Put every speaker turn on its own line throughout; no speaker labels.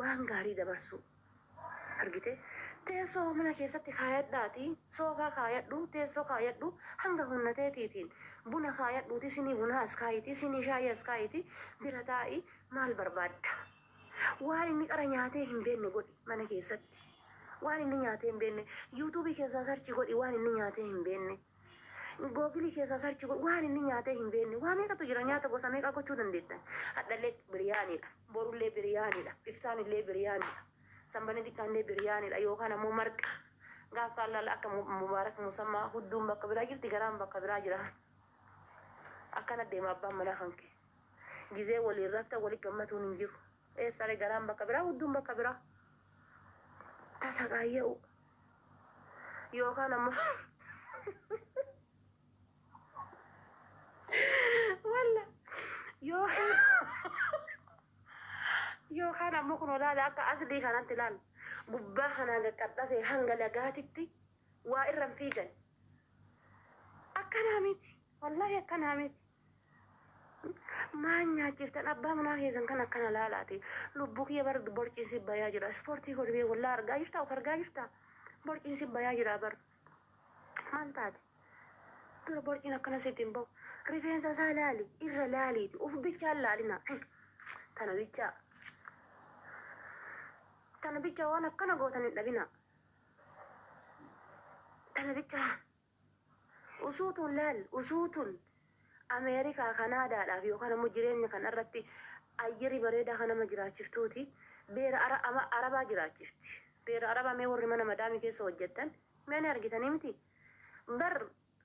Waan gaarii dabarsuu. Argite? Teessoo mana keessatti kaayadhaatii, soofaa kaayadhu, teessoo kaayadhu, hanga humna teetiitiin buna kaayadhuutii sinii bunaa as kaa'iitii, sinii shaayii as kaa'iitii bira taa'i. Maal barbaadda? Waan inni qara nyaatee hin beekne godhi mana keessatti. Waan inni nyaatee hin beekne. Yuutuubii keessaa sarchi godhi waan inni nyaatee hin beekne. Googilii keessaa sarchi godhi waan inni nyaatee hin beekne waa meeqatu jira nyaata gosa meeqaa gochuu dandeettan hadhallee biriyaaniidha borullee biriyaaniidha iftaan illee biriyaaniidha sanbana xiqqaan illee biriyaaniidha yookaan ammoo marqa gaaf kaan laala akka Mu- mubaarak musammaa hudduun bakka biraa jirti garaan bakka biraa jira akkana deema abbaan manaa kan kee gizee waliin rafta wali gammatuun hin jiru eessaalee garaan bakka biraa hudduun bakka biraa tasaqaayya'u Yookaan ammoo walla yoo yookaan ammoo kun olaala akka aslii kanatti laal gubbaa kanaan qaqqaxxate hanga lagaatitti waa irra hin fiigan. Akkanaa miti. Wallaahi akkanaa miti. Maan nyaachiftan abbaa manaa keessan kan akkana laalaati. Lubbuu kiyya bar borciin si bayaa jira. Ispoortii godhimee wallaa argaa jirta of argaa jirta. Borciin si bayaa jira bar. Maal taate? Dura borciin akkana sitti hin bahu. Rifeensa isaa laali irra laaliiti of bichaan laalina. Tana bichaa. Tana bichaa waan akkana gootan hin dhabina. Tana bichaa. Usuu tun laal usuu tun America Canada dhaaf yookaan ammoo jireenya kan irratti ayyeri bareedaa kan nama jiraachiftuuti beera ara ama arabaa jiraachifti beera arabaa mee warri mana madaami keessa hojjattan mee ni argitanii miti bar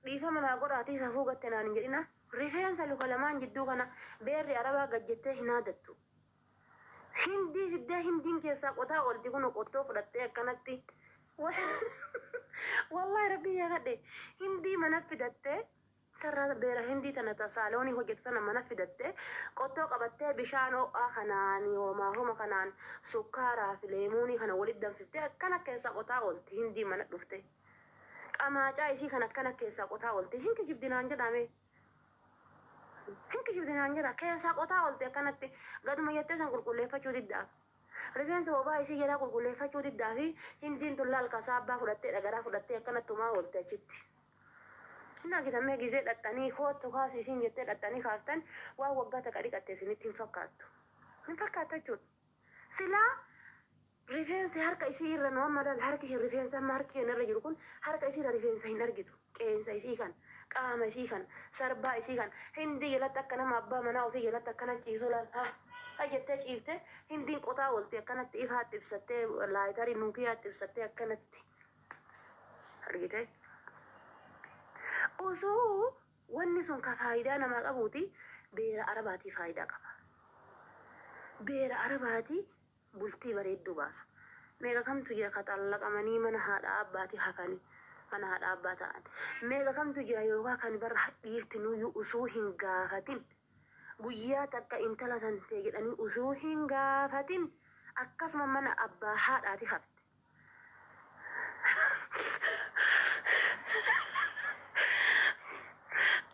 dhiifama naa godhaatii safuu gatte naan hin jedhina rifeensa luka lamaan jidduu kana beerri arabaa gad jettee hin haadattu Hindii fiddaa hindiin keessaa qotaa oolti kuno qottoo fudhattee akkanatti wallahi rabbiin yakadhe hindii mana fidattee sarraa beera hindii tana ta saaloonii hojjetu tana mana fidattee qottoo qabattee bishaan ho'aa kanaan hoomaa homa kanaan sukkaaraa fi leemuunii kana walitti danfiftee akkana keessaa qotaa oolti hindii mana dhuftee qamaacaa isii kan akkana keessaa qotaa oolti hin kijibdinaan jedhaamee. Hin kijibdi naan jedha. Keessaa qotaa oolte akkanatti. Gaduma jettee san qulqulleeffachuu diddaaf. Rifeensa bobaa isii jalaa qulqulleeffachuu diddaafi Hindiin tun laal kasaabbaa fudhattee dhagaraa fudhattee akkanatti tumaa oolte achitti. Hin argitan mee gizee dhaxxanii koottu kaasi isiin jettee dhaxxanii kaaftan waan waggaa takka dhiqatte isinitti hin fakkaattu. Hin fakkaattu jechuudha. Silaa Rifeensi harka isii irra nu amma laal harki kee rifeensa amma harki keenna irra jiru kun harka isii irra rifeensa hin argitu qeensa isii kan qaama isii kan sarbaa isii kan hindii jalatti akka nama abbaa manaa ofii jalatti akkana ciisu laal ha ha jettee ciifte hindiin qotaa oolti akkanatti ifaatti ibsattee laayitarii nuukiyaatti ibsattee akkanatti argite osoo wanni sun ka faayidaa namaa qabuuti beera arabaatii faayidaa qaba beera arabaatii bultii bareedduu baasu. Meeqa kamtu jira ka xallaqamanii mana haadhaa abbaati hafani mana haadhaa abbaa ta'an. Meeqa kamtu jira yookaa kan bar dhiirtinuuyyuu usuu hin gaafatin guyyaa takka intala tantee jedhanii usuu hin gaafatin akkasuma mana abbaa haadhaati hafte.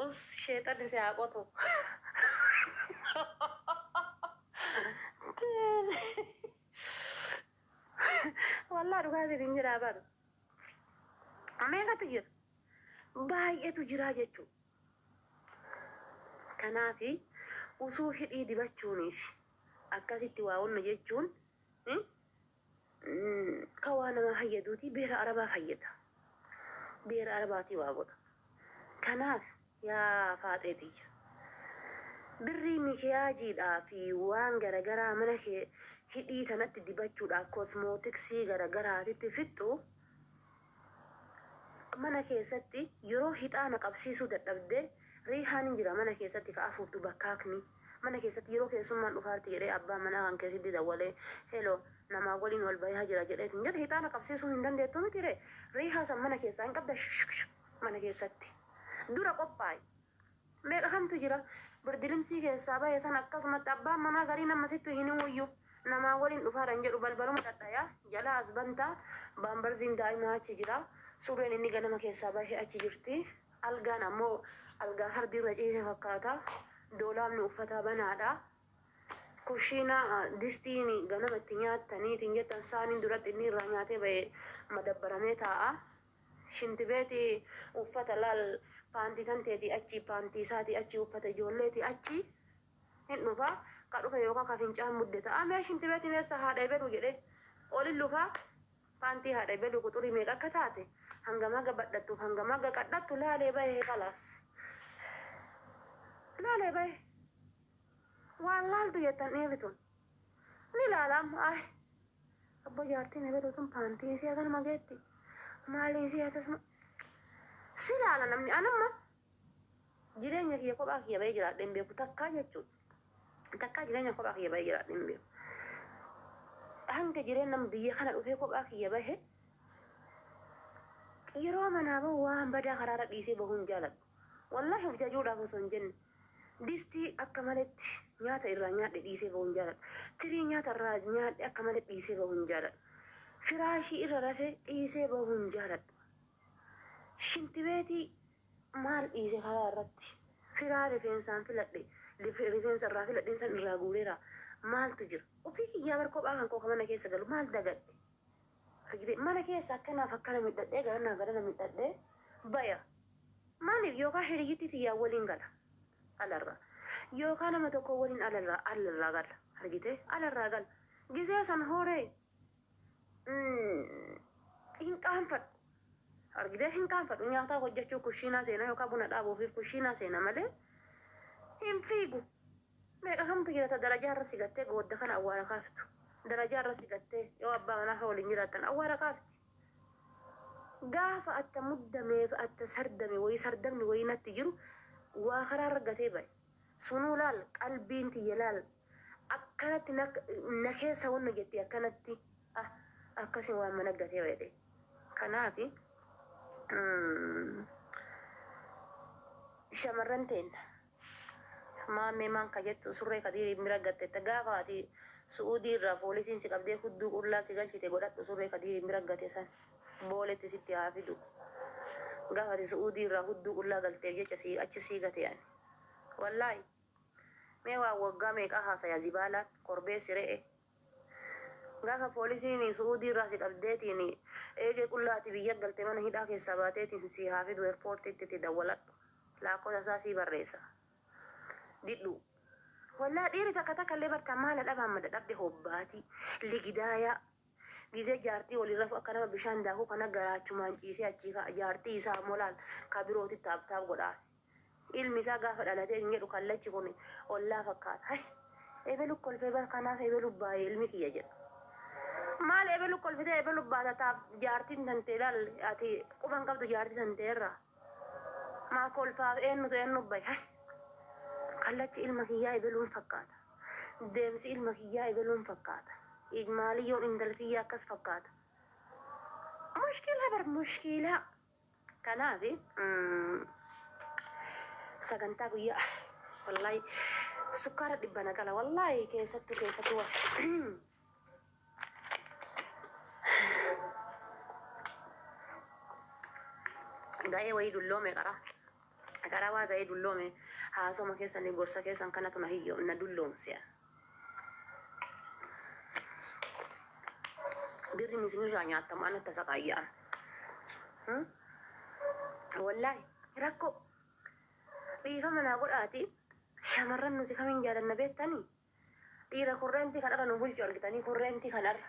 Us sheexanni si haa qotu. Wallah dhugaa siin hin jedhaa bar. Meeqatu jira? Baay'eetu jiraa jechuu. Kanaafi usuu hidhii dibachuuniif akkasitti waa hunda jechuun Ka waa namaa fayyaduutii beera arabaa fayyada. Beera arabaatii waa godha. Kanaaf yaa faaxee tiyya. Birrii mikiyaajiidhaa fi waan garagaraa mana kee hidhii tanatti dibachuudhaa kosmootiksii garagaraatitti fixxu Mana keessatti yeroo hixaana qabsiisuu dadhabde riihaan hin jira mana keessatti ka afuuftu bakkaakni mana keessatti yeroo keessummaan dhufaarti jedhee abbaan manaa kan kee sitti dawwalee helo namaa waliin wal bayaa jira jedhee hin jedhu hixaana qabsiisuu hin dandeettu miti ree riihaa san mana keessaa hin qabda shikshikshik mana keessatti dura qophaa'i Meeqa kamtu jira birdilimsii keessaa bahe san akkasumatti abbaan manaa gariin amma sittu hin himuyyuu namaa waliin dhufaadhan jedhu balbaluma dhadhaya jalaa as bantaa baambarziin daa'imaa achi jira surreen inni ganama keessaa bahe achi jirti algaan ammoo algaa fardi irra ciise fakkaata doolaabni uffataa banaadha kushiina distiin ganama itti nyaattaniitiin jettan saaniin duratti inni irraa nyaatee bahe madabbaramee taa'a. Shinti beeti uffata laal paanti tanteeti achi paanti isaati achi uffata ijoolleeti achi hin dhufa ka dhufe yookaa ka fincaan mudde ta'a mee shinti beetiin eessa haadha ebelu jedhe olin lufa paantii haadha ebelu quxurii meeqa akka taate hangam haga badhattuuf hangam haga qadhattu laalee bahe kalaas laalee bahe waan laaltu jettan dhiirri tun. Ni laala amma ay abbo jaartii na beetu tun paantii isii akanuma geetti maalii isii akkasuma si laala namni an amma jireenya kiyya kophaa kiyya bahee jiraadhe hin beeku takkaa jechuudha takkaa jireenya kophaa kiyya bahee jiraadhe hin beeku hanga jireenya biyya kana dhufee kophaa kiyya bahee yeroo manaa bahu waan badaa karaarra dhiisee bahuun jaaladhu wallaahi of jajuudhaaf osoo hin jenne Distii akka maletti nyaata irraa nyaadhe dhiisee bahu hin jaaladhu. Tirii nyaata irraa nyaadhe akka malee dhiisee bahu hin jaaladhu. Firaashii irra rafe dhiisee bahu hin jaaladhu. Shintibeetii maal dhiise karaa irratti? Firaa rifeensaan filadhe, lif- rifeensa irraa filadheen san irraa guureera. Maaltu jira? Ofii kiyyaa bar kophaa kan koo ka mana keessa galu maal dagadhe? Argitee mana keessa akkanaaf akkana midhadhee garanaa garana midhadhee baya. Maaliif yookaa hiriyyittii tiyyaa waliin gala alarraa. Yookaa nama tokkoo waliin alarraa alarraa gala argitee alarraa gala. Gisee san horee hin qaanfadhu. Argitee hin qaanfadhu nyaataa hojjechuu kushiinaa seena yookaa buna dhaabuufiif kushiinaa seena malee hin fiigu. Meeqa kamtu jira ta darajaa irra si gattee goodda kana awwaara kaaftu. Darajaa irra si gattee yoo abbaa manaa kee waliin jiraattan awwaara kaafti. Gaafa atta muddamee fi atta sardame wayii sardamni wayii natti jiru waa karaa irra gatee baye. Sunuu laal qalbiin tiyya laal akkanatti na na keessa wanna jetti akkanatti ah akkasi waan mana gatee baye ta'e. Kanaafi shamarran teenna. Maammee maan ka jettu surree kadiiriin bira gattetta gaafa ati su'uudii irraa poolisiin si qabdee hudduu qullaa si galchite godhadhu surree kadiiriin bira gate san booletti sitti haa fidu gaafa ati su'uudii irraa hudduu qullaa galteef jecha si achi si gate ani wallaahi mee waan waggaa meeqaa haasaya zibaalaan korbeessi re'e Gaafa poolisiin su'uudii irraa si qabdeetiin eegee qullaa ati biyya galte mana hidhaa keessaa baateetiin sii haa fidu erpoortiitti itti dawwaladhu laakkosa isaa sii barreessa didhuu Wallaah dhiiri takka takka illee bar tan maala dhabaan mada dhabde hobbaati ligidaayaa gizee jaartii waliin rafu akka nama bishaan daakuu kana garaachumaan ciisee achii ka'a jaartii isaa ammoo laal ka birooti taaptaap godhaa Ilmi isaa gaafa dhalate hin jedhu kallachi kun ollaa fakkaata. Hay ebelu kolfe bar kanaaf ebelu baaye ilmi kiyya jedha. Maal ebelu kolfitee ebelu baata taaf jaartiin tantee laal ati quba hin qabdu jaartii tantee irraa. Maa kolfaaf eennutu eennu baye. Hay kallachi ilma kiyyaa ebeluun fakkaata. Deemsi ilma kiyyaa ebeluun fakkaata. Maaliyyoon intala tiyyaa akkas fakkaata. Mushkiilaa bar mushkiilaa. Kanaafi sagantaa guyyaa wallahi sukkaara dhibba na qala wallahi keessattu keessattu wa ga'ee wayii dulloome qara qara waa ga'ee dulloome haasoma keessan gorsa keessan kanatu na hiyyo na dulloomse Birriin isinirraa nyaatama ana tasaqaayyaan. Wallaahi rakkoo dhiifama naa godhaati shamarran nuti kamiin jaalanna beektanii dhiira korreentii kanarra nu bulchu argitanii korreentii kanarra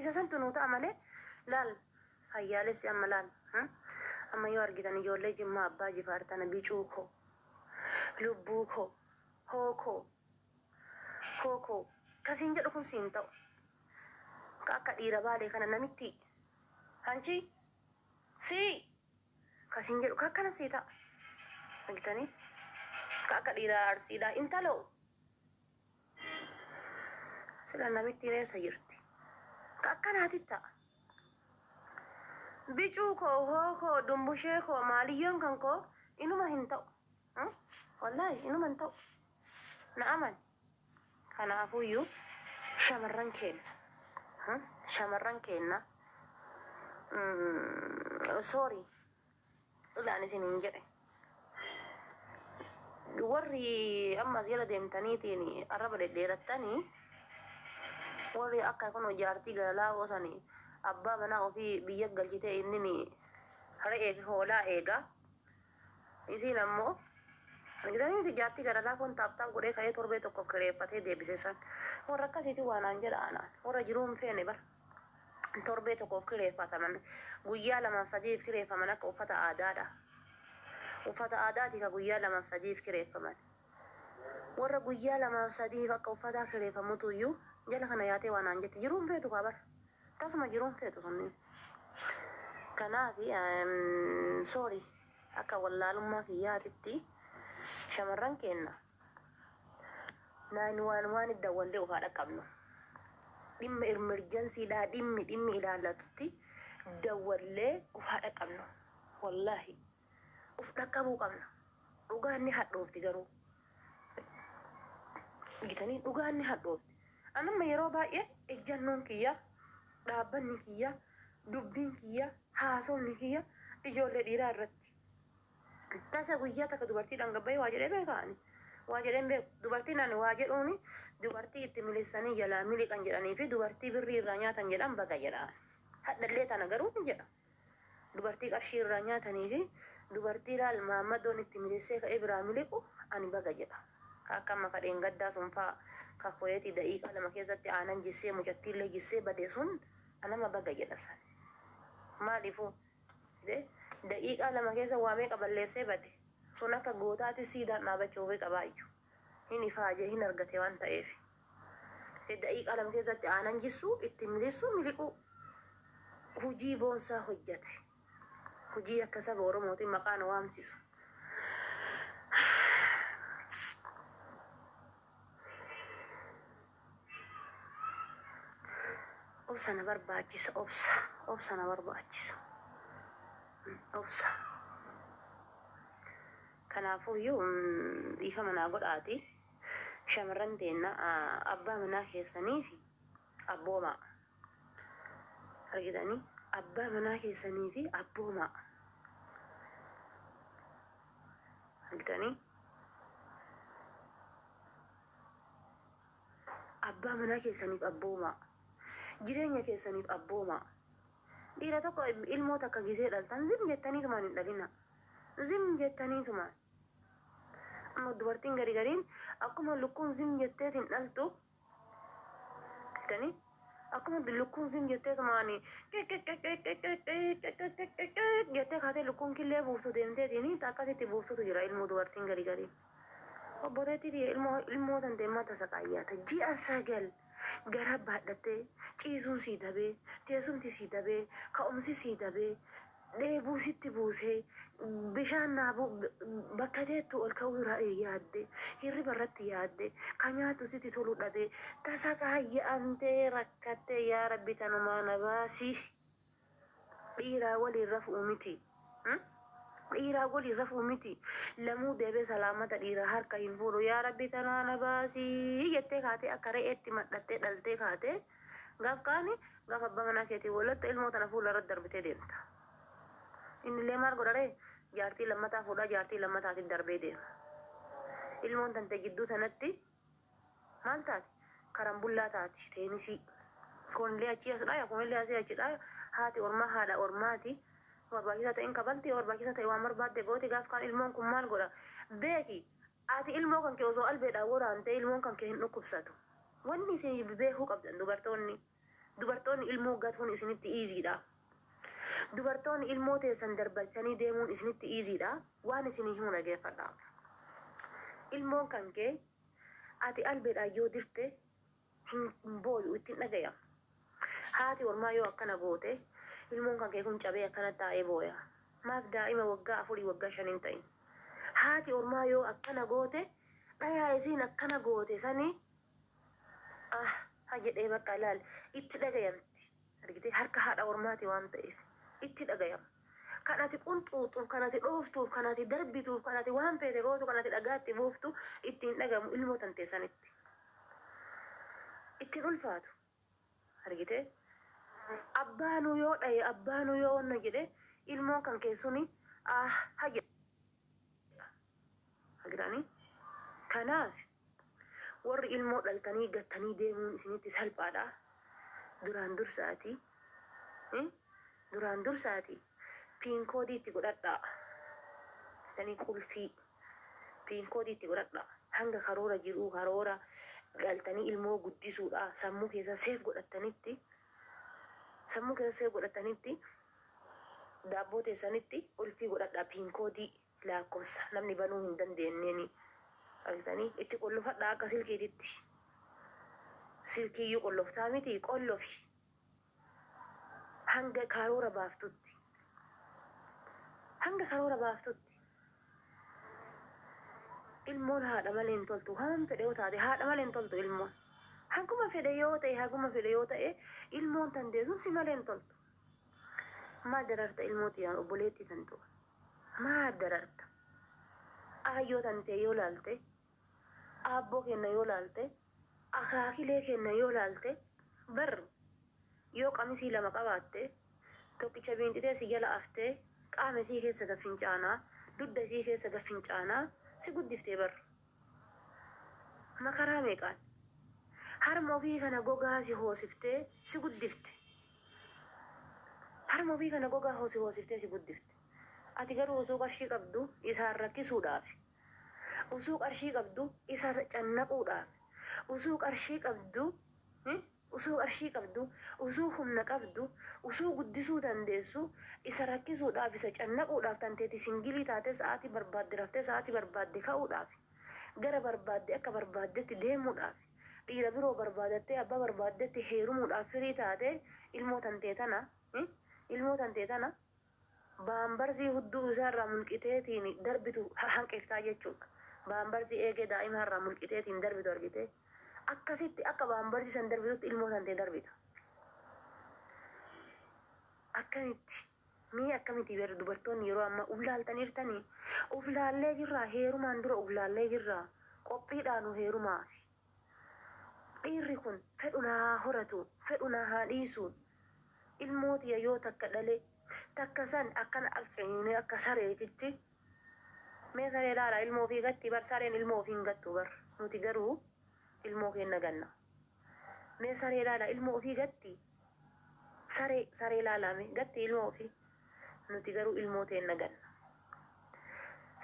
Isa santu nuu ta'a malee laal fayyaalessi amma laal amma yoo argitan ijoollee jimmaa abbaa jifaar tana bicuu koo lubbuu koo hoo koo hoo koo ka siin jedhu kun siin ta'u ka akka dhiira baalee kana namitti hanchii sii ka siin jedhu ka akkana sii ta'a argitanii ka akka dhiira arsiidhaa intaloo Sila namittiin eessa jirti? Ka akkanaati ta'a. Bicuu koo, hoo koo, dumbushee koo, maaliyyoon kan koo inuma hin ta'u. Hmm? Wallaahi inuma hin ta'u. Na amani. Kanaafuyyuu shamarran keenya. Hmm? Shamarran keenya. Mm, sorry. Dhugaan isiniin jedhe warri amma as jala deemtaniitiin arraba dhedheerattanii warri akka kun jaartii galalaa oosani abbaa manaa ofii biyya galchitee innini re'ee fi hoolaa eegaa isiin ammoo argitanii miti jaartii galalaa kun taaptaap godhee ka'ee torbee tokkoof kireeffatee deebise san warra akkasiiti waanaan jedha anaan warra jiruu hin feene bara. torbee tokkoof kireeffataman, guyyaa lamaaf sadiif kireeffaman akka uffata aadaadha. Uffata aadaati ka guyyaa lamaaf sadiif kireeffaman. Warra guyyaa lamaaf sadiif akka uffataa kireeffamutu iyyuu jala kana yaatee waa naan jetti. Jiruun feetu kaa bar. Tasuma jiruun feetu sunniin. Kanaaf sorry akka wallaalummaa kiyyaatitti shamarran keenna. 911 tti dawwallee of haa dhaqqabnu. Dhimma emergency dhaa dhimmi dhimmi ilaallatutti dawwallee of haa dhaqqabnu. Wallaahi of dhaqqabuu qabna. Dhugaan ni hadhoofti garuu. Gitanii dhugaan ni hadhoofti. An amma yeroo baay'ee ejjannoon kiyya, dhaabbanni kiyya, dubbiin kiyya, haasofni kiyya ijoollee dhiiraa irratti. Tasa guyyaa takka dubartii dhanga bahee waa jedhee beekaa ani. Waa jedheen beeku. Dubartiin ani waa jedhuuni dubartii itti milissanii jalaa miliqan jedhanii fi dubartii birrii irraa nyaatan jedhan baga jedha. Hadhallee tana garuu ni jedha. Dubartii qarshii irraa nyaatanii fi dubartii laal maammadoon itti milissee ka'ee biraa miliqu ani baga jedha. Ka akka amma ka dheengaddaa sun faa ka koyeetii da'iiqaa lama keessatti aanan jissee mucattiillee jissee bade sun anama baga jedha san. Maaliifuu? Daqiiqaa lama keessa waa meeqa balleessee bade. Sun akka gootaatis siidaan dhaabachuufii qabaayyu. Hin ifaaje, hin argate waan ta'eef. Daqiiqaa lama keessatti aanan jissuu, itti miliissuu, miliquu. Hujii boonsaa hojjate. Hujii akka saba Oromootiin maqaa nu waamsisu. Obsa na barbaachisa obsa obsa na barbaachisa obsa kanaafuu iyyuu mm, dhiifama naa godhaati shamarran teenna a- abbaa manaa keessanii fi abboomaa argitanii abbaa manaa keessanii fi abboomaa argitanii Abbaa manaa keessaniif abboomaa. Jireenya keessaniif abboomaa. Dhiira tokko ilmoo takka gisee dhaltan zim jettaniitumaan hin dhalina. Zim jettaniitumaan. Amma dubartiin gari gariin akkuma lukkuun zim jetteet hin dhaltu. Jettanii akkuma lukkuun zim jetteetumaan jettee kaatee lukkuun killee buuftu deemteetiin akkasitti buuftutu jira ilmoo dubartiin gari gariin. Obboleetti tiyya ilmoo ilmoo tante mata saqaayyaata ji'a sagal garaa baadhattee ciisuun sii dabee teesumti sii dabee ka'umsi sii dabee dheebuu sitti buusee bishaan naabuu bakka teettu ol ka'uu irraa yaadde hirriba irratti yaadde ka nyaattu sitti tolu dhabee tasaqaayya'amtee rakkattee yaa rabbi tanumaa na baasi. Dhiiraa waliin rafuu miti Dhiiraa waliin rafuu miti Lamuu deebee salaamata dhiiraa harka hin fuudhu yaa rabbi tanaa na baasii jettee kaatee akka re'eetti madhattee dhaltee kaatee gaaf kaani gaaf abbaa manaa keetiin walotte ilmoo tana fuula irratti darbitee deemta innillee maal godha ree jaartii lammataa fuudhaa jaartii lammataatiif darbee deema ilmoon tante jidduu tanatti Maal taate? Karambullaa taati, teenisii. Foonillee achii as dhaaya, foonillee asii achi dhaaya. Haati ormaa haadha ormaati. Yoo barbaachisaa ta'e hin kafalti, yoo barbaachisaa ta'e waan barbaadde gooti. Gaaf kaan ilmoon kun maal godha? Beeki! Ati ilmoo kan kee osoo albeedhaan waraantee ilmoon kan kee hin dhukkubsatu. Wanni isin beekuu qabdan dubartoonni. Dubartoonni ilmoo gatuun isinitti easy dha. Dubartoonni ilmoo teessan darbachtanii deemuun isinitti easy dha. Waan isinii himu dhageeffadhaa. Ilmoon kan kee ati albeedhaan yoo dirte hin booyu, itti hin dhagayamu. Haati ormaa yoo akkana goote ilmoon kan kee kun cabee akkana taa'ee booya. Maaf daa'ima waggaa afurii waggaa shan hin ta'in. Haati ormaa yoo akkana goote dhayaa isiin akkana goote sanii Ah ha jedhee bakka laal itti dhagayamti argitee harka haadha ormaati waan ta'eef itti dhagayama kan ati qunxuuxuuf kan ati dhooftuuf kan ati darbituuf kan ati waan feete gootu kan ati dhagaatti buuftu itti hin dhagamu ilmoo tantee sanitti ittiin ulfaatu argitee abbaanuu yoo dhaye abbaanuu yoo wanna jedhe ilmoon kan kee suni ah ha jedha argitanii kanaaf Warri ilmoo dhaltanii gattanii deemuun isinitti salphaadhaa? Duraan dursaatii Hii Duraan dursaatii Pin koodii itti godhadhaa Jettanii qulfii Pin koodii itti godhadhaa Hanga karoora jiruu karoora dhaltanii ilmoo guddisuudhaa sammuu keessan save godhattanitti Sammuu keessan save godhattanitti Daabboo teessanitti qulfii godhadhaa Pin koodii laakkofsa namni banuu hin dandeenneni argitanii itti qollofadhaa akka silkiititti silkiiyyuu qolloftaa miti qollofi hanga kaaroora baaftutti hanga karoora baaftutti ilmoon haadha malee hin toltu waan fedhe yoo taate haadha malee hin toltu ilmoon haguma fedhe yoo ta'e haguma fedhe yoo ta'e ilmoon tanteesun si malee hin toltu maal dararta ilmoo tiyaan obboleettii tantu Maa dararta? Aayyoo tantee yoo laalte, aabboo keenna yoo laalte, akaakilee keenna yoo laalte, bar yoo qamisii lama qabaatte, tokkicha biinxitee si jala aftee, qaama isii keessa gad fincaanaa, dudda isii keessa gad fincaanaa si guddifte bar. Makaraa meeqaan harma ofii kana gogaa si hoosiftee si guddifte. Harma ofii kana gogaa si hoosiftee si guddifte. Ati garuu osoo qarshii qabdu isaan rakkisuudhaaf, osoo qarshii qabdu isa cannaquudhaaf, osoo qarshii qabdu. Utuu arshii qabduu, utuu humna qabduu, utuu guddisuu dandeessuu, isa rakkisuudhaaf, isa cannaquudhaaf, tan teeti singilii taatee sa'aatii barbaadde raftee sa'aatii barbaadde ka'uudhaaf, gara barbaadde akka barbaaddetti deemuudhaaf, dhiira biroo barbaadattee abbaa barbaaddetti heerumuudhaaf firii taatee ilmoo tan tee tana, ilmoo tan tee tana, Baambarzii hudduu isaa irraa mulqiteetiin darbitu hanqiftaa jechuudha. Baambarzii eegee daa'imaa irraa mulqiteetiin darbitu argitee? Akkasitti akka baambarzii san darbitutti ilmoo tantee darbita. Akkamitti? Mee akkamitii beektu dubartoonni yeroo ammaa uf laaltaniirtanii? Uf laallee jirraa? Heerumaan dura uf laallee jirraa? Qophiidhaa nu heerumaafi. Dhiirri kun fedhu na haa horatu, fedhu na haa dhiisu, ilmoo tiyya yoo takka dhale, takka san akkana alfeeyne akka sareetitti, mee saree laala ilmoo ofii gatti bar sareen ilmoo ofii hin gattu bar nuti garuu ilmoo keenna ganna. Mee saree laala ilmoo ofii gatti saree saree laala mee gatti ilmoo ofii nuti garuu ilmoo teenna ganna.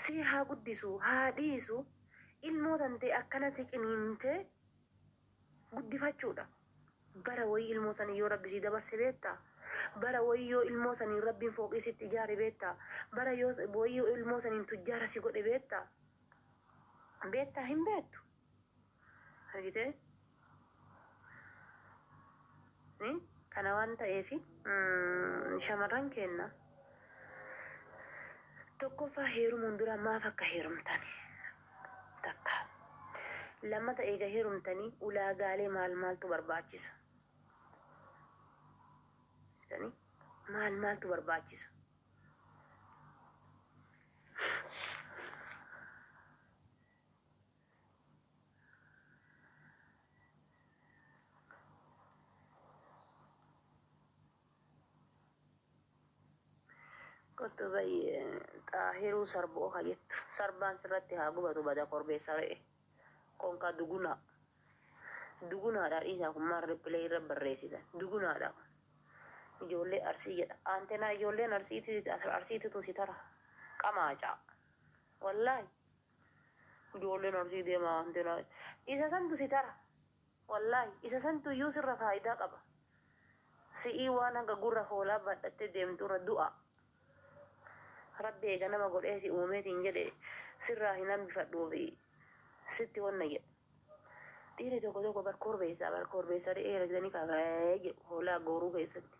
Sii haa guddisu haa dhiisu. ilmoo tantee akkanati qiniinte guddifachuudha bara wayii ilmoo sanii yoo rabbi sii dabarse beetta bara wayii yoo ilmoo saniin rabbiin fooqii sitti ijaare beetta bara yoo wayii yoo ilmoo saniin tujjaara si godhe beetta beetta hin beettu argitee Ree kana waan ta'eefi shamarran keenna tokkoffaa heerumuun dura maaf akka heerumtan takka lammata eega heerumtanii ulaagaalee maal maaltu barbaachisa jettanii maal maaltu barbaachisa Kottu bayyee xaahiruu sarboo ka jettu sarbaan sirratti haa gubatu bada korbeessa re'e konka dugunaa dugunaadha dhiisaa kun maal ripilee irra barreessitan dugunaadha kun ijoollee arsii jedha aantenaa ijoolleen arsiiti arsiititu si tara qamaacaa wallaahi Ijoolleen Arsii deemaa waan ta'eef isa santu si tara. Wallaahi isa santu iyyuu sirra faayidaa qaba. Si'ii waan hanga gurra hoolaa baadhattee deemturra du'a. Rabbi eega nama godhee si uumee siin jedhe sirraa hin hambifadhuufi sitti wanna jedhe. Dhiirri tokko tokko bar korbeessa bar korbeessa re'ee argitanii kaa ba'ee jedhu hoolaa gooruu keessatti.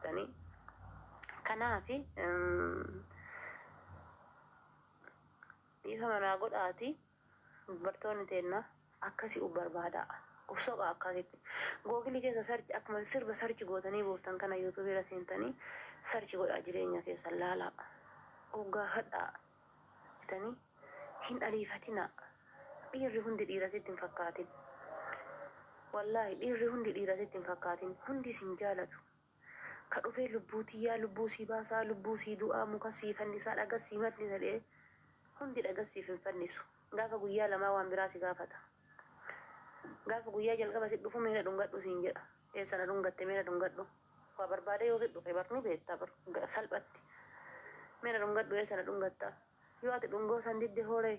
Tanii kanaafi. Dhiifama naa godhaati dubartoonni teenna akkasi uf barbaada uf soqa akkasitti google keessa search akkuma sirba search gootanii buuftan kana youtube irra seentanii search godhaa jireenya keessan laalaa uf gaafadhaa jetanii hin ariifatinaa dhiirri hundi dhiira sitti hin fakkaatin wallaahi dhiirri hundi dhiira sitti hin fakkaatin hundi isin jaalatu Ka dhufee lubbuu tiyyaa lubbuu sii baasaa lubbuu sii du'aa muka sii fannisaa dhaga sii matnisa jedhee hundi dhaga siif hin fannisu gaafa guyyaa lamaa waan biraa si gaafata gaafa guyyaa jalqaba si dhufu mee na dhungadhu siin jedha eessa na dhungatte mee na dhungadhu waa barbaadee yoo si dhufe bar ni beetta bar salphatti mee na dhungadhu eessa na dhungatta yoo ati dhungoo san didde hooree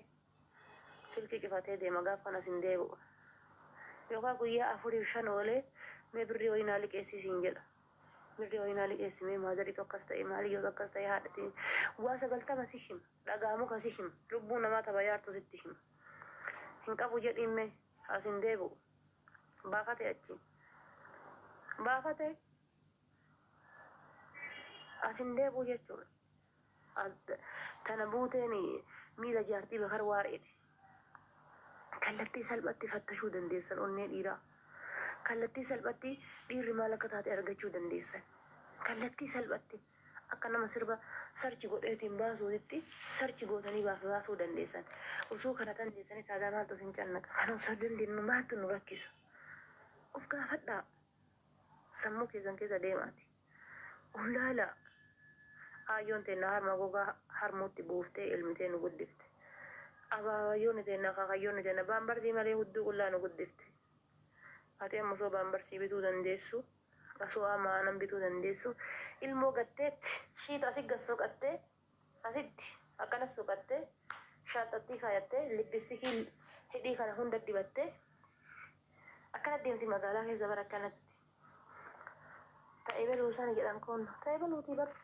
Silkii cufatee deema gaaf kanas hin deebi'u. Yookaa guyyaa afuriif shan oolee mee birrii wayii naa liqeessii siin jedha. Birrii wayii naa liqeessi mee maazarii akkas ta'e maaliyyoo akkas ta'e haadhati waa sagaltama si hima dhagaa muka si hima lubbuu namaa tabayaartu sitti hima. Hin qabu jedhiin mee as hin deebi'u. Baafate achii. Baafate as hin deebi'u jechuudha. Tana buuteen miila jaartii Bakar Waareeti. Kallattii salphatti fattashuu dandeessan onnee dhiiraa. Kallattii salphatti dhiirri maal akka taate argachuu dandeessan. Kallattii salphatti akka nama sirba search godheetiin baasuutitti search gootanii baasuu dandeessan. Osoo kana dandeessanii taadaa maaltu isin cannaqa? Kana osoo dandeenyu maaltu nu rakkisa? Of gaafadhaa. Sammuu keessan keessa deemaati. Gulaalaa! Aayyoon teenna harma gogaa harmuutti buuftee elmitee nu guddifte. Abaabayyoonni teenna, akaakayyoonni teenna baambarsii malee hudduu qullaa nu guddifte. Ati amma osoo baambarsii bituu dandeessu, osoo amma aanan bituu dandeessu, ilmoo gatteetti, shiita asi gad soqattee, Asitti akkana suuqattee, shaanxattii kaayattee, lippisikiin hidhii kana hunda dibattee akkana deemti magaalaa keessa bar akkanatti. Ta ebeluu sani jedhan kun ta ebeluutii bar.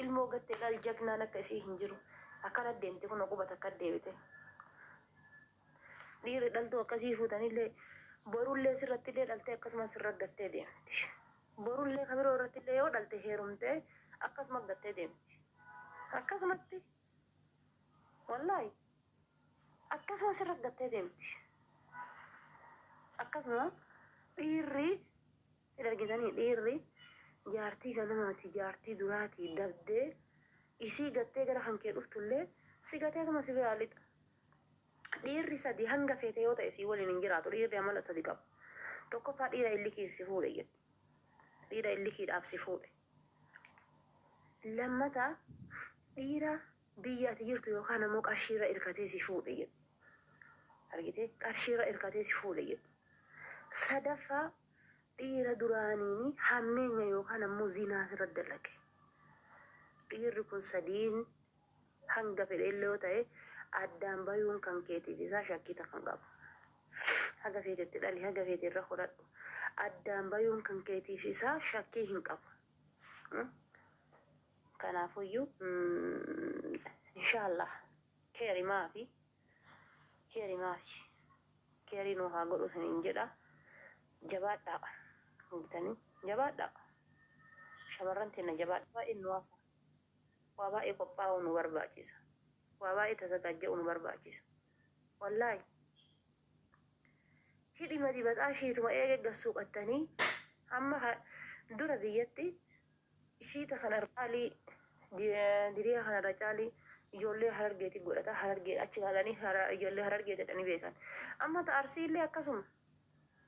Ilmoo gattee dhaal jagnaan akka isii hin jiru. Akkana deemti kun quba takka deebite. Dhiirri dhaltuu akkasii fuutanillee borullee sirrattillee dhaltee akkasuma sirra gattee deemti. Borullee ka biroo irrattillee yoo dhalte heerumtee akkasuma gattee deemti. Akkasumatti wallaahi akkasuma sirra gattee deemti. Akkasuma dhiirri hin argitanii dhiirri jaartii ganamaati jaartii duraati dabdee isii gattee gara kan kee dhuftullee si gateetuma si biraa lixa. Dhiirri sadii hanga feete yoo ta'e sii waliin hin jiraatu dhiirri amala sadi qabu. Tokkoffaa dhiira illikiin si fuudhe jedhu. Dhiira illikiidhaaf si fuudhe. Lammata dhiira biyya ati jirtu yookaan ammoo qarshiirra irkatee si fuudhe jedhu. Argitee qarshiirra irkatee si fuudhe jedhu. Sadaffaa dhiira duraaniini hammeenya yookaan ammoo zinaa irra dalage. Dhiirri kun sadiin Hanga fedhe illee yoo ta'e addaan bayuun kan keetiif isaa shakkii takka hin qabu. Haga feete itti dhali, haga feete irra horadhu. Addaan bayuun kan keetiif isaa shakkii hin qabu. Kanaafuyyuu inshaallah keeri maafi keeri maafi keerii nuu haa godhu isiniin jedha. Jabaadhaa hoogitanii jabaadhaa shamarran teenna jabaadhaa baay'een nu hafa. waa baay'ee qophaa'uu nu barbaachisa waa baay'ee tasagaajja'uu nu barbaachisa wallaahi hidhima dibataa shiituma eege gassuuqattanii hamma ka- dura biyyatti shiita kana irra caalii di- diriyaa kana irra caalii ijoollee harargeetii godhata harargee achi laalanii hara- ijoollee harargee jedhanii beekan amma ta arsiillee akkasuma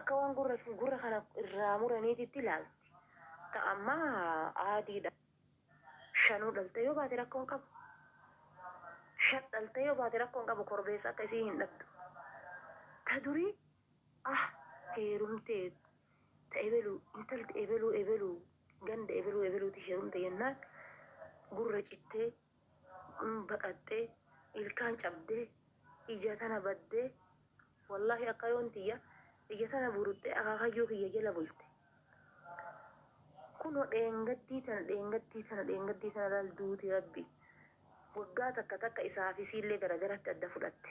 Akka waan gurra gurra kana irraa muraniititti ilaalti. Ta amma aadiidha. Shanuu dhaltee yoo baate rakkoo hin qabu. Shan dhaltee yoo baate rakkoo hin qabu korbeessa akka isii hin dhabdu. Ta durii ah heerumtee ta ebelu intalti ebeluu ebeluu ganda ebeluu ebeluuti heerumte jennaan gurra cittee Amma baqattee ilkaan cabdee ija tana baddee wallaahi akkayoon tiyya ija tana buruttee akaakayyuu kiyya jala bulte kunoo dheengaddii tana dheengaddii tana dheengaddii tana laal duuti rabbi waggaa takka takka isaa fi isiillee garagaratti adda fudhatte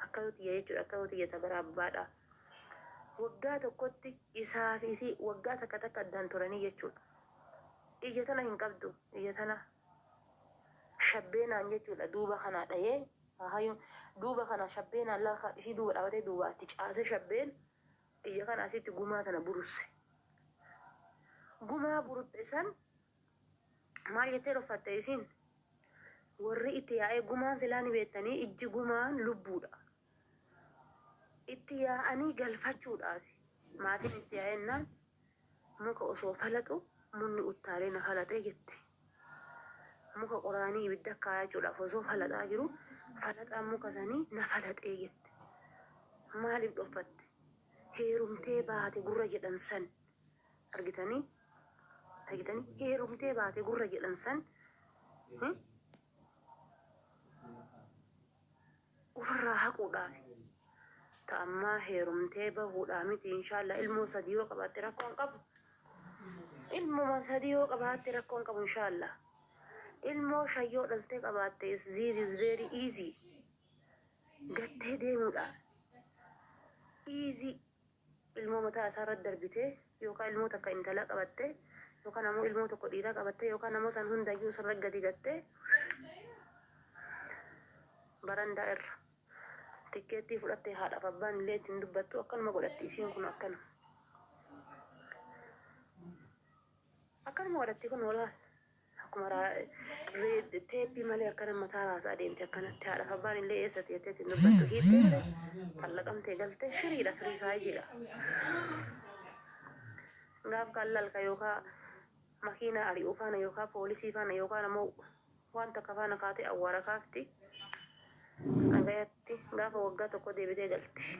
akkayoo tiyya jechuudha akkayoo tiyya tabara abbaadha waggaa tokkotti isaa fi isii waggaa takka takka addaan turanii jechuudha ija tana hin qabdu ija tana shabbeenaan jechuudha duuba kanaa dhayee haayuun duuba kanaa shabbeenaan laakaa dhisii duuba dhaabatee duuba itti caasee shabbeen iyya kana asitti gumaa tana burusse gumaa burutte san maal jettee dhoffatte isiin warri itti yaa'ee gumaan silaa ni beettanii ijji gumaan lubbuudha Itti yaa'anii galfachuudhaaf maatiin itti yaa'ennaan muka osoo falaxu munni uttaalee na falaxe jette. Muka qoraanii ibidda kaayachuudhaaf osoo falaxaa jiru falaxaan muka sanii na falaxee jette. Maaliif dhoffatte? Heerumtee baate gurra jedhan san argitanii argitanii heerumtee baate gurra jedhan san Ufirraa haquudhaafi. Ta ammaa heerumtee bahuudhaa miti inshaallaa ilmoo sadii yoo qabaatte rakkoo hin qabu. Ilmuma sadii yoo qabaatte rakkoo hin qabu inshaallaa. Ilmoo shan yoo dhaltee qabaatte is this is very easy. Gattee deemuudhaaf. Easy. ilmoo mataa isaa irratti darbitee yookaan ilmoo takka intalaa qabattee yookaan ammoo ilmoo tokko dhiiraa qabattee yookaan ammoo san hundayyuu isarra gadi gattee barandaa irra tikkeettii fudhattee haadhaaf abbaan illee ittiin dubbattu akkanuma godhatti isiin kun akkana akkanuma godhatti kun walaal Akkuma raa, teeppii malee akkana mataa raasaa deemte akkanatti haadhaaf abbaan illee eessa teettee ittiin dubbattu hiittee malee xallaqamtee galte firiidha firii saayiziidha. Gaaf kaan lalka yookaa makiinaa ari'uu faana yookaa poolisii faana yookaan ammoo waan takka faana kaatee awwaara kaafti. Nagayatti gaafa waggaa tokko deebitee galti.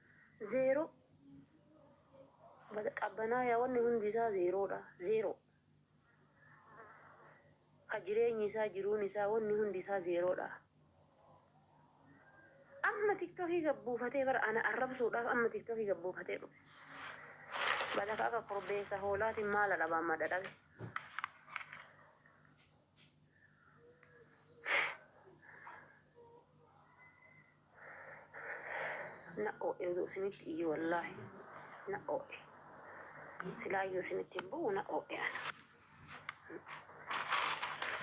Zeeroo. Qabbanaaya wanni hundi isaa zeeroodha. Zeeroo. Ka jireenyi isaa, jiruun isaa, wanni hundi isaa zeeroodha. Amma tiktokii gad buufatee bara ana arrabsuudhaaf amma tiktokii gad buufatee dhufe. Balaka akka korbeessa hoolaatiin maala dhabaan madda dhabe. na oo'e utuu isinitti iyyu wallaahi na oo'e silaayyuu isinitti hin bu'u na oo'e ana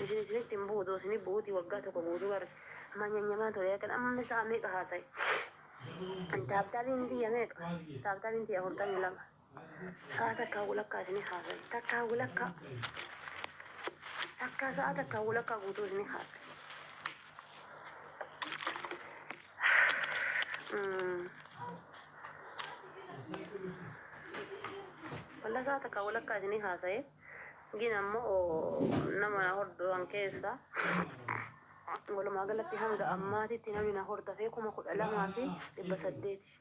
isin isinitti hin bu'u utuu isinii bu'uutii waggaa tokko guutuu bar manyanyamaa ture kan amma isaa meeqa haasa'e taabtaabiin tiyya meeqa taabtaabiin tiyya afurtamii lama Sa'a takkaa walakkaa isinii haasaye. Takkaa walakkaa. Takkaa sa'a takkaa walakkaa guutuu isinii haasaye. Mm. Wallah sa'a takkaa walakkaa isinii haasaye. Gin ammoo nama na hordofan keessa walumaa galatti hanga ammaatitti namni na hordofee kuma kudha lamaa fi dhibba saddeeti.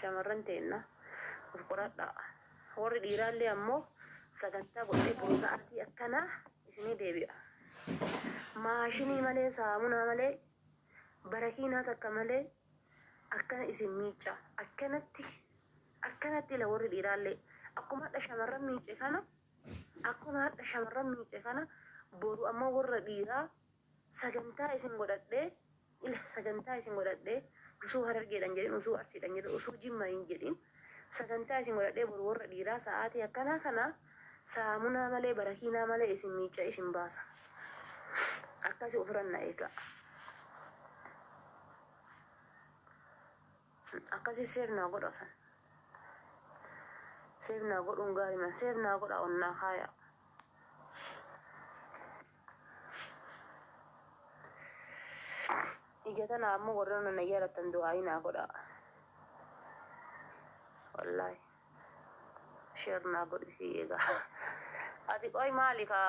Shamarran teenna of qoradhaa. Warri dhiiraallee ammoo sagantaa godhee boru sa'aatii akkanaa isinii deebi'a. Maashinii malee, saamunaa malee, barakiinaa takka malee akkana isin miicca. Akkanatti akkanatti ila warri dhiiraallee akkuma hadha shamarran miice kana akkuma hadha shamarran miice kana boru ammoo warra dhiiraa Sagantaa isin godhadhee ila sagantaa isin godhadhee usuu harargeedhan jedhin usuu arsiidhan jedhin usuu jimma hin jedhin sagantaa isin godhadhee boru worra dhiiraa sa'aatii akkanaa kana saamunaa malee barakiinaa malee isin miicca isin baasa akkasi ufiran na eegaa akkasi seef naa godha san seef naa godhuun gaariman seef naa godha onnaa kaayaa Ija tana ammoo warra na jaalattan du'aa'ii naa godhaa. Wallaahi. Sheer naa godhi sii eegaa. Ati qoy maali ka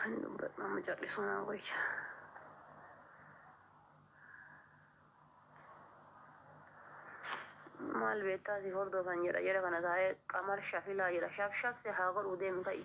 hin dubbatu amma callisuu naa wayya. Maal beektaa si hordofan jedha jara kana taa'ee qamar shafilaa jedha shaf shaf si haa godhuu deemi ka'i.